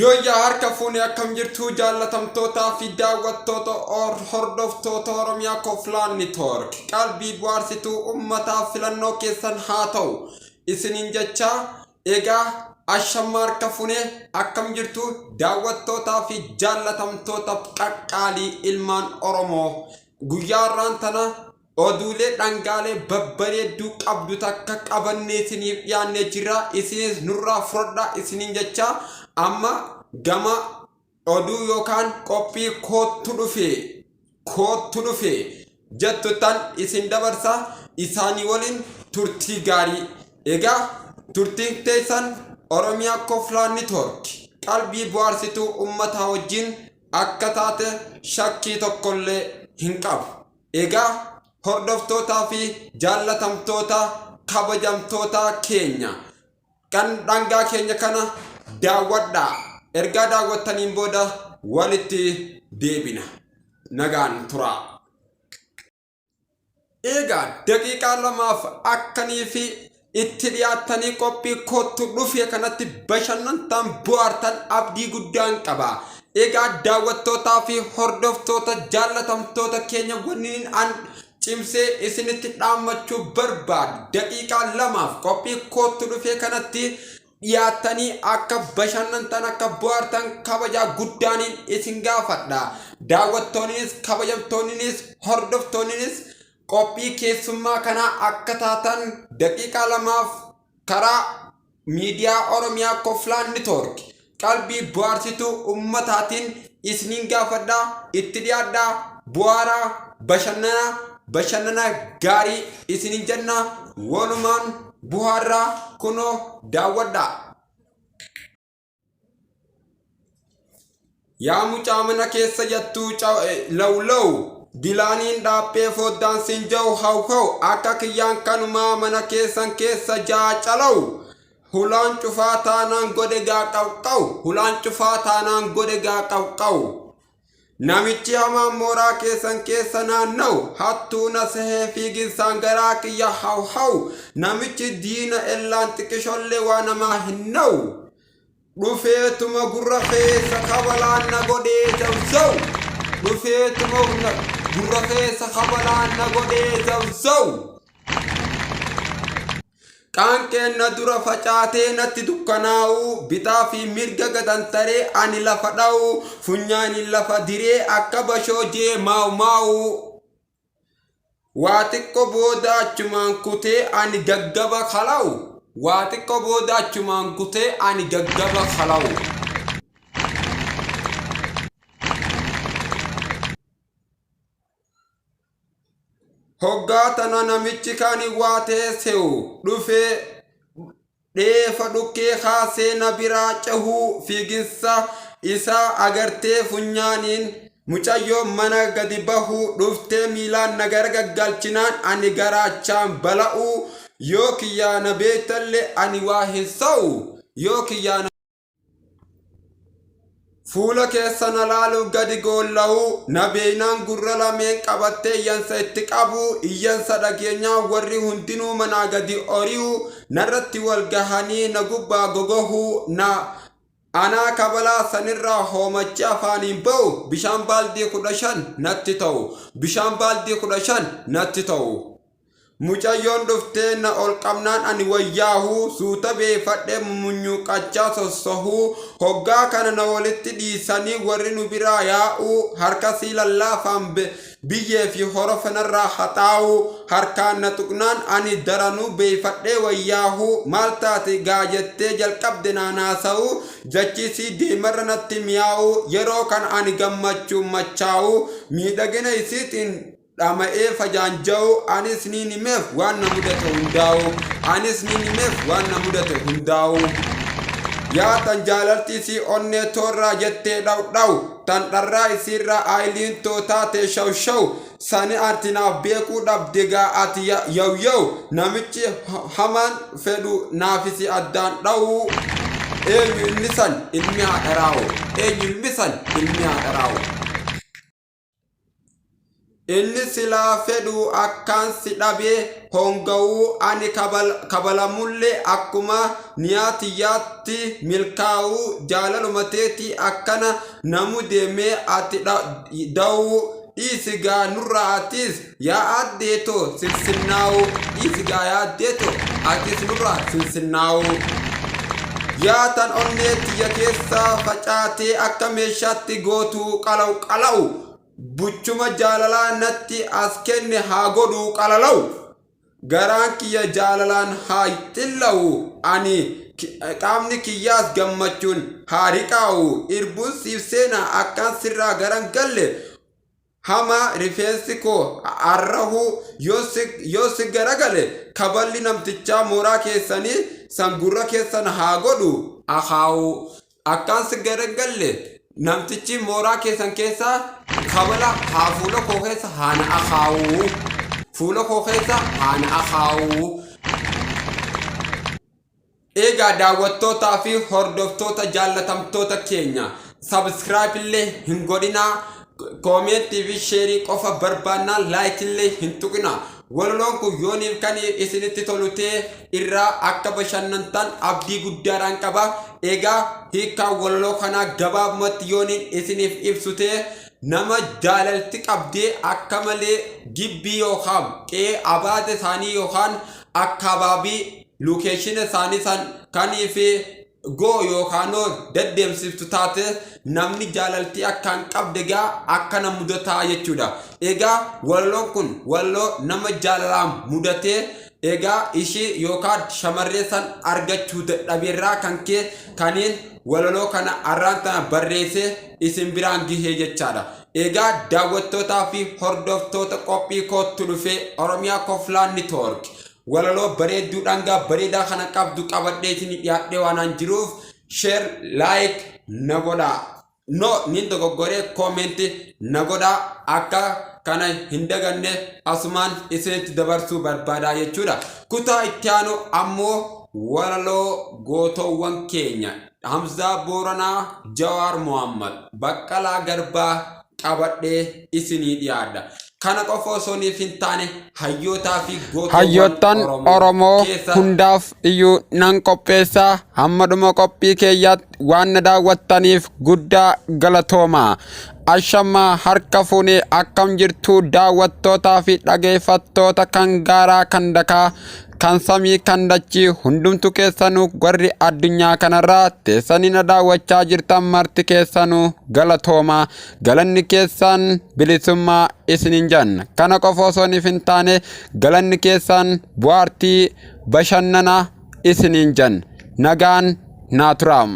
Yooyyaa harka fuune akkam jirtu jaallatamtootaa fi daawwattoota hordoftoota Oromiyaa Koflaan Nitoork qalbii bu'aarsituu ummataaf filannoo keessan haa ta'u isiniin jechaa egaa ashamma harka fuune akkam jirtu daawwattootaa fi jaallatamtoota qaqqaalii ilmaan Oromoo guyyaa irraan tana Oduulee dhangaalee babbareedduu qabdu takka qabannee isiniif dhiyaannee jirra. Isinis nurraa fudhadhaa isiniin jecha amma gama oduu yookaan qophii koottu dhufe koottu dhufe jettuttan isin dabarsa isaanii waliin turtii gaarii. Egaa turtiin teessan Oromiyaa Koflaa Network qalbii bu'aarsituu ummataa wajjin akka taate shakkii tokkollee hin qabu. Egaa hordoftootaa fi jaallatamtoota kabajamtootaa keenya kan dhangaa keenya kana daawwadhaa. Ergaa daawwattaniin booda walitti deebina. Nagaan turaa. Egaa daqiiqaa lamaaf akkanii fi Itti dhiyaattanii qophii koottu dhufee kanatti bashannantaan bu'aartan abdii guddaan qaba. Egaa daawwattootaa fi hordoftoota jaallatamtoota keenya wanniin an cimsee isinitti dhaammachuu barbaadu daqiiqaa lamaaf qophii koottu dhufee kanatti dhiyaattanii akka bashannantan akka bu'aartan kabajaa guddaaniin isin gaafadha. Daawwattoonnis kabajamtoonnis hordoftoonnis qophii keessummaa kanaa akka taatan daqiiqaa lamaaf karaa miidiyaa Oromiyaa Koflaan Nitoork qalbii bohaarsituu ummataatiin isniin gaafadha itti dhiyaadha buhaaraa bashannana bashannana gaarii isiniin jenna walumaan buhaarraa kunoo daawwadha. Yaa mucaa mana keessa jattuu law law dilaaniin dhaaphee foddaan sin jau haw haw akka kiyyaan kanumaa mana keessan keessa jaa calaw hulaan cufaa taanaan godhe gaa qawqaw hulaan cufaa taanaan godhe gaa qawqaw. Namichi hamaan mooraa keessan keessa naanna'u, hattuu na sehee fiiginsaan garaa kiyya haw haw, namichi diina ellaan xiqqishollee waa namaa hin na'u. Dhufeetuma gurra keessa kabalaan na godhee zawzaw. Dhufeetuma na- gurra keessa kabalaan na godhee zawzaw. Qaanqeen na dura facaatee natti dukkanaa'u, bitaa fi mirga gatantaree ani lafa dha'u, funyaaniin lafa diree akka bashoo jee maawu maawu. Waa xiqqo booda achumaan kutee ani gaggaba kalawu. Waa xiqqo booda achumaan kutee ani gaggaba kalawu. Hoggaa tana namichi kan waa teesse'u dhufee dheefa dhukkee kaasee na biraa cehuu fiiginsa isaa agartee funyaaniin mucayyoo mana gadi bahuu dhuftee miilaan na gargaggalchinaan ani garaachaan bala'uu yoo kiyyaa na beektalle ani waa hin sa'u yoo kiyyaa na Fuula keessa na laaluuf gadi goolla'uu, na beeynaan gurra lameen qabattee iyyansa itti qabuu, iyyansa dhageenyaa warri hundinuu manaa gadi ori'u, narratti wal gahanii na gubbaa gogohuu, na anaa kabalaa sanirraa hoomachii afaaniin ba'u, bishaan baaldii kudha shan natti ta'u, bishaan baaldii kudha shan natti ta'u. Mucayyoon dhuftee na ol qabnaan ani wayyaahu suuta beefadhee mumunyuuqachaa sossohu hoggaa kana na walitti dhiisanii warri nu biraa yaa'u harkasii lallaafaan biyyee fi horofa narraa haxaa'u harkaan na tuqnaan ani daranuu beefadhee wayyaahu maal taate gaa jettee jalqabde naan haasa'u jachisii deemarra natti miyaa'u yeroo kana ani gammachuun machaa'u miidhagina isiitiin dhama'ee fajaanja'u anis niin himeef waan na mudate hundaa'u anis niin himeef waan na mudate hundaa'u yaa tan jaalaltii sii onnee toorraa jettee dhaw dhaw tan dharraa isiirraa aayiliin too taatee shaw shaw sani ati naaf beekuu dhabde gaa ati ya- yaw yaw namichi ha- hamaan fedhu naafisi addaan dhawuu eenyu inni san ilmi haadharaawo eenyu ilmi san ilmi haadharaawo Inni silaa fedhuu akkaan si dhabee hoongawuu ani kabalamulle akkuma niyaa tiyyaatti milkaawuu jaalaluma teetii akkana na mudee mee ati dawuu dhiisi gaa nurra atiis Yaa aaddee too sinsinnaawoo dhiisi gaa yaaddee too atis nurraa sinsinnaawoo. Yaa tan onnee tiyya keessa facaatee akka meeshaatti gootuu qalaw qalaw buchuma jaalalaa natti as kenne haa godhuu qalalaw garaan kiyya jaalalaan haa xillawu ani qaamni kiyyaas gammachuun haa riqaawu irbuun siif seena akkaan sirraa garan galle hamaa rifeensi koo arrahuu yoo si, yoo si garagale kaballi namtichaa mooraa keessanii san gurra keessan haa godhu akaawu akkaan si garagalle namtichi mooraa keessan keessaa kabala haa fuula koo keessa haa na akaawu fuula koo keessa haa na akaawu Eegaa daawwattootaa fi hordoftoota jaallatamtoota keenya subscribe illee hin godhinaa koomeettii fi sheerii qofa barbaannaa like illee hin tuqinaa walaloon kun yooniif kan isinitti tolu ta'e irraa akka bashannantan abdii guddaadhaan qaba egaa hiikaa walaloo kanaa gabaabumatti yooniin isiniif ibsu ta'e nama jaalalti qabdee akka malee gibbii yookaan qe'ee abaate isaanii yookaan akkaababii lokeeshina isaanii san kanii fi go yookaanoo deddeemsiftu taate namni jaalaltii akkaan qabde egaa akkana mudataa jechuudha. Egaa walaloon kun walaloo nama jaalalaan mudatee egaa ishii yookaan shamarree san argachuu dadhabeerraa kan kee kaniin walaloo kana arraan tana barreessee isin biraan gihee jechaadha. Egaa daawwattootaa fi hordoftoota qophii koottu dhufee Oromiyaa Koflaan Network Walaloo bareedduu dhangaa bareedaa kana qabdu qabadheetiin dhiyaadhee waanaan jiruuf share like na godhaa. No nin dogoggoree comment na godhaa akka kana hin daganne asumaan isinitti dabarsuu barbaadaa jechuudha. Kutaa itti aanu ammoo walaloo gootoowwan keenya Hamzaa Booranaa, Jawaar Mohaammed, Baqqalaa Garbaa, qabadhee isinii dhiyaadha. Kana qofa osoo niif hin taane hayyootaa fi Hayyoottan gootoowwan Oromoo Oromoo keessa hundaaf iyyuu nan qopheessa hamma dhuma qophii keeyyaatti waan na daawwattaniif guddaa galatooma. Ashamma harka fuune akkam jirtu daawwattootaa fi dhageeffattoota kan gaaraa kan dakaa kan samii kan dachii hundumtu keessanuu warri addunyaa kanarraa teessanii na daawwachaa jirtan marti keessanuu galatoomaa galanni keessaan bilisummaa isinin janna kana qofa osoo niif hin taane galanni keessaan bu'aartii bashannana isinin janna nagaan naa turaa.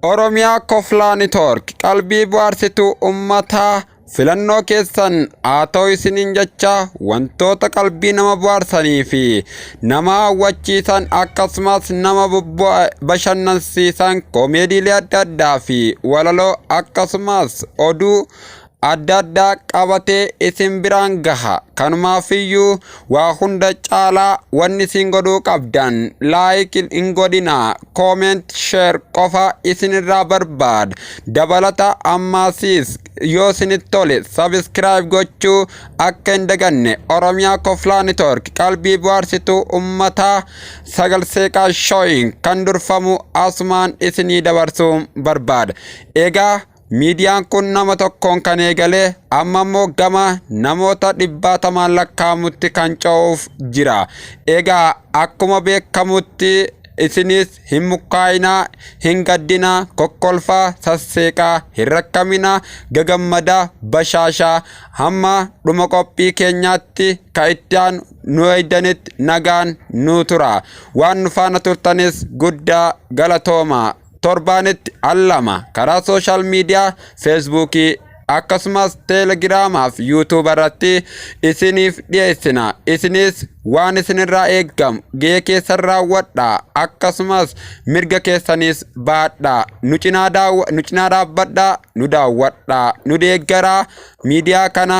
Oromiyaa Koflaa Network qalbii bohaarsituu ummataa filannoo keessan haa ta'u isiniin jecha wantoota qalbii nama bohaarsanii fi nama hawwachiisan akkasumas nama bashannansiisan koomeediilee adda addaa fi walaloo akkasumas oduu adda addaa qabatee isin biraan gaha. Kanumaafiyyuu waa hunda caalaa wanni isin godhuu qabdan laayik hin godhinaa koomeent sheer qofa isinirraa barbaada. Dabalata ammaasiis yoo isinitti tole sabiskiraayib gochuu akka hin daganne Oromiyaa Koflaa Nitoork qalbii bohaarsituu ummataa sagal seeqaa shooyin kan durfamu asumaan isinii dabarsuu barbaada. Egaa Miidiyaan kun nama tokkoon kan eegalee amma immoo gama namoota dhibbaatamaan lakkaa'amutti kan ce'uuf jira. Egaa akkuma beekamutti isinis hin mukkaa'inaa, hin gaddinaa, kokkolfaa, sasseeqaa, hin rakkaminaa, gagammadaa, bashaashaa hamma dhuma qophii keenyaatti ka itti aanu nu eegdanitti nagaan nu tura. Waan nu faana turtanis guddaa galatoomaa. torbaanitti al lama karaa sooshaal miidiyaa feesbuukii akkasumas teelegiraamaa fi yuutuuba irratti isiniif dhiyeessina isinis waan isinirraa eegamu gahee keessan raawwadha akkasumas mirga keessanis baadha nu cinaa daaw- nu cinaa dhaabbadha nu daawwadha nu deeggaraa miidiyaa kana